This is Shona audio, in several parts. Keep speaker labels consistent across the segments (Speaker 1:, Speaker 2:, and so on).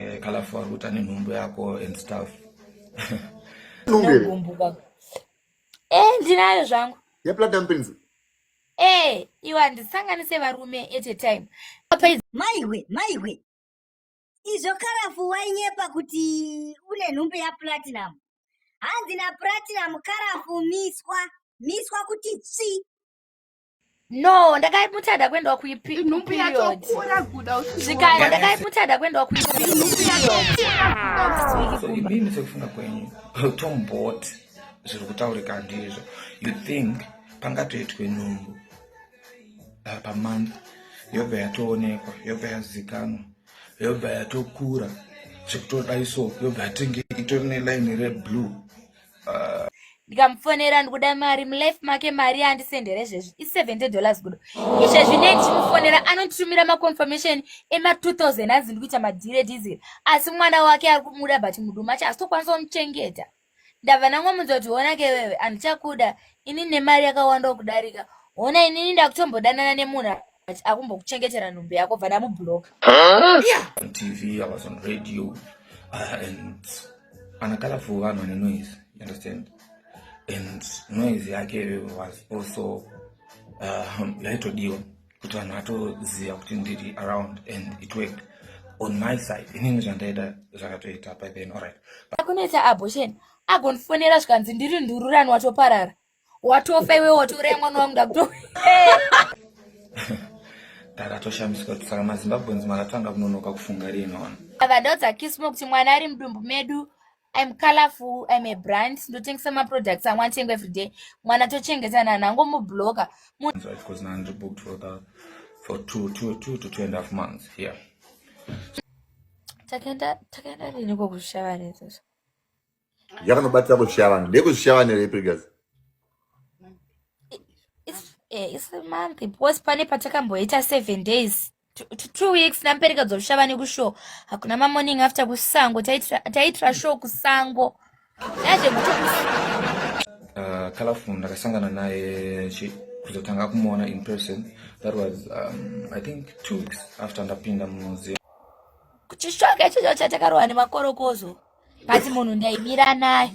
Speaker 1: eh, kalafu wakuta nenhumbu yako and stuff
Speaker 2: eh, ndinayo zvangu yeplatinum pins
Speaker 3: eh
Speaker 2: iwa ndisanganise varume at a time maiwe
Speaker 4: maiwe izvo karafu wainyepa kuti une nhumbu yaplatinum hanzi naplatinum karafu miswa miswa kuti tsvi
Speaker 2: no ndakaimutada kuendawa kuiperiodsikaya ndakaimutada kuendawa kuiperiodinini
Speaker 1: sekufunga kwenyu tombot zviri kutaurika ndizvo you think pangatoitwe nhumbu uh, pamonth yobva yatoonekwa yobva yazikanwa yobva yatokura zvekutoda iso yobva yatinge itori nelaini reblue ndikamufonera
Speaker 2: ndikuda mari mulife make mari yaandisendere zvezvi i70 dollars kudo izvezvi nei ndichimufonera anonditumira maconfirmation ema2000 anzi ndikuita madhire diesel asi mwana wake ari kumuda but muduma acho asitokwanisa kumuchengeta ndabva ndangomunza kuti hona ke wewe handichakuda ini nemari yakawanda okudarika hona inini ndakutombodanana nemunhu but akumbokuchengetera nhumbi yako bva ndamubloka on
Speaker 1: tv i was on radio uh, and ana colorful vanhu vane noise you understand and noise yake was also uh, yaitodiwa kuti vanhu vatoziva kuti ndiri around and it worked on my side inini zvandaida zvakatoita by then alright akunetsa abortion
Speaker 2: agondifonera zvikanzi ndiri ndururani watoparara watofa iwe watouraya mwana wangu ndakuto
Speaker 1: ndakatoshamisika kuti saka mazimbabweans makatanga kunonoka kufunga rinona vadaudza kismo
Speaker 2: kuti mwana ari mudumbu medu im colorful im a brand ndotengesa maproducts amwe atengo everyday mwana tochengeta nani angomubloka
Speaker 1: takaenda
Speaker 2: riniko kuzvishava rezoso
Speaker 3: yakanobatira kuzvishiya vanhu ndekuzvishiya vanhu here previous
Speaker 2: eh, isi month because pane patakamboita seven days two weeks nampereka dzozvishiya vane kushow hakuna mamorning after kusango taitira show kusango yazvekuti uh,
Speaker 1: colorful ndakasangana naye kuzotanga kumuona in person that was um, i think two weeks after ndapinda mumuseum kuchishoka
Speaker 2: ichocho chatakarohwa nemakorokozo but munhu ndaimira naye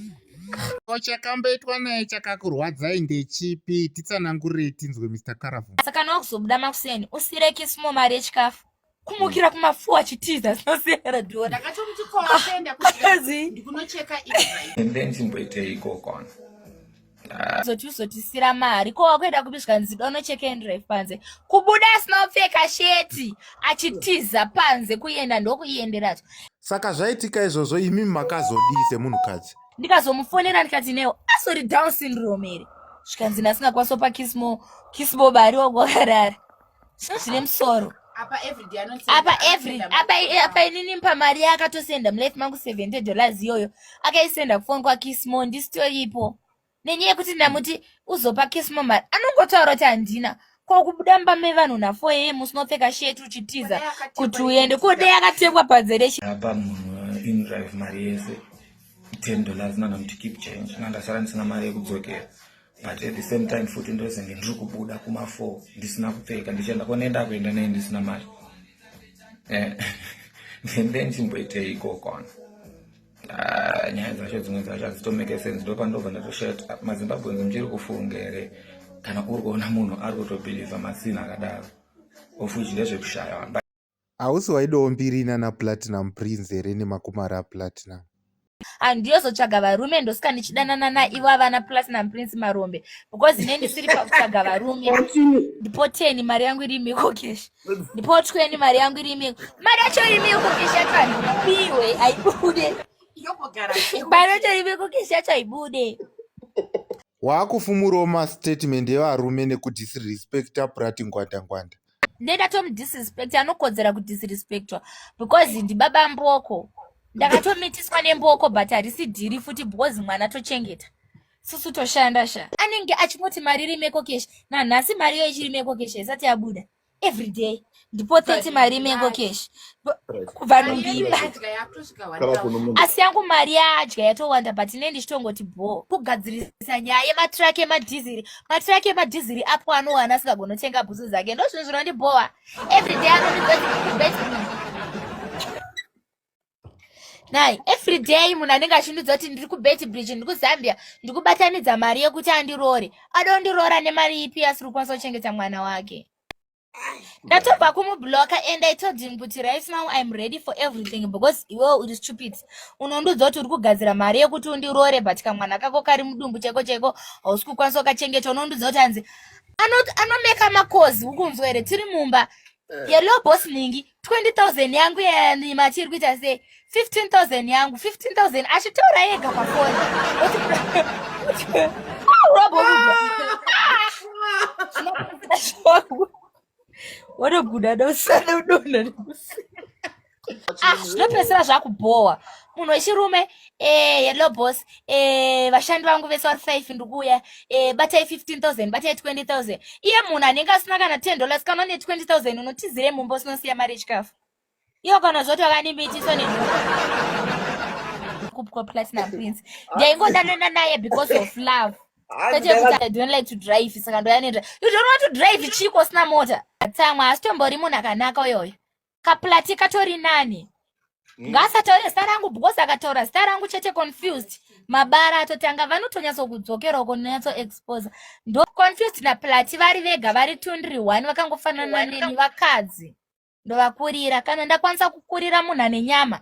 Speaker 2: ko chakamboitwa
Speaker 5: naye chakakurwadzai ndechipi titsanangurei tinzwe mr caravan saka no kuzobuda
Speaker 2: makuseni usire kisimo mari yechikafu kumukira kumafuwa achitiza zvinosiyana dora ndakatomuti koaenda
Speaker 6: kuzi ndikunocheka ive and then chimboitei
Speaker 1: ikoko zoti uzotisira
Speaker 2: mari ko wakuenda kupi zvikanzi dono chekendrive panze kubuda asina kupfeka sheti achitiza panze kuenda ndokuienderazvo saka zvaitika
Speaker 5: izvozvo imi makazodii semunhukadzi ndikazomufonera
Speaker 2: ndikati newo asori down syndrome here zvikanzi ndasingakwanisa pa kismo kismo bari wakuwakarara sezvine musoro
Speaker 6: apa apa inini
Speaker 2: mpa mari yaakatosenda mulife mangu seventy dollars iyoyo akaisenda kufoni kwakismo ndisitoripo nenyaya yekuti ndamuti uzopa kismo mari anongotaura kuti handina kwakubuda mba mevanhu nafo yeye musi unopfeka sheti uchitiza kuti uende kodei akatengwa padzereapa munhu
Speaker 1: inrive mari yese ten dollars nanamuti keep change nandasara ndisina mari yekudzokera but at the same time futi ndozenge ndiri kubuda kumafo ndisina kupfeka ndichienda konenda kuenda nei ndisina mari eh, ndende ndimboitei ikokona ah, nyaya dzacho dzimwe dzacho hadzitomeke sense ndo pandobva ndatoshati ah, mazimbabweans muchiri kufunga here kana uri kuona munhu ari kutobhilivha masina akadaro ofuchi ndezvekushaya Hausi
Speaker 5: waidawo mbiri inana platinum prince here nemakumari aplatinum? handiyozotsvaga
Speaker 2: varume ndosika ndichidanana naivo avana platinum prince marombe because ine ndisiri pakutsvaga varume ndipo teni mari yangu iri miko kesh ndipo tweni mari yangu iri miko mari yacho iri miko kesh yacho handipiwe haibude mari yacho iri miko kesh yacho haibude waakufumurawo
Speaker 5: mastatement evarume nekudisrespecta prati ngwanda ngwanda ndendatomudisrespect
Speaker 2: anokodzera kudisrespectwa because ndibaba mboko ndakatomitiswa nemboko but harisi dhiri futi because mwana tochengeta susu toshanda sha anenge achingoti mari iri meko kesh nanhasi mari iyo ichiri meko kesh haisati yabuda every day ndipo 30 mari meko kesh kubva nungiba asi yangu mari yadya yatowanda but ine ndichitongoti bho kugadzirisa nyaya yematraki emadhiziri matraki emadhiziri apo anowana asingagonotenga bhutsu dzake ndo zvinhu zvinondibhowa everyday anonibet nai every day munhu anenge achindiudza kuti ndiri kubet bridge ndiri kuzambia ndikubatanidza mari yekuti andiroore adondiroora nemari ipi asiri kukwanisa kuchengeta mwana wake ndatobva kumubloka and i told him kuti right now im ready for everything because iwewo uri stupid unondiudza kuti uri kugadzira mari yekuti undiroore but kamwana kako kari mudumbu chaiko chaiko hausi kukwanisa ukachengeta unondiudza kuti hanzi anomeka makozi ukunzwa here tiri mumba eh. yelo boss ningi 20,000 yangu yani machiri kuita sei 15,000 yangu 15,000 achitaura yega pafoni watoguda dosana udona ah, zvinopedzisira zvakubhowa munhu wechirume Eh, hello boss. Eh, vashandi vangu vese vari five ndikuuya. Eh, batai 15000, batai 20000. Iye munhu anenge asina kana 10 dollars kana ne 20000 unotizire mumba usinosiya mari yechikafu. Iyo kana zvoti vakanimbitiswa ne kupwa platinum prince. Ndaingodanana naye because of love. Kwete kuti I don't like to drive saka ndoya ne drive. You don't want to drive chiko sina mota. Tsamwa asitombori munhu akanaka uyoyo. kaplati katori nani mm. ngaasataure zita rangu because akataura zita rangu chete confused mabara atotanga vanotonyatso kudzokera uko nonyatso exposa ndo confused naplati vari vega vari tundri one vakangofanana neni vakadzi ndovakurira kana ndakwanisa kukurira munhu ane nyama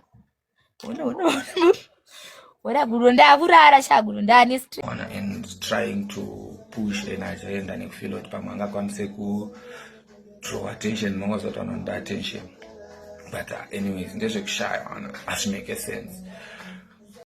Speaker 2: Ora guru ndakurara shaguru ndane stress. Ona and
Speaker 1: trying to push and agenda nekufeel kuti pamwe angakwanise ku draw attention munonga zoti anoda attention but uh, anyways ndezvekushaya ana asi make sense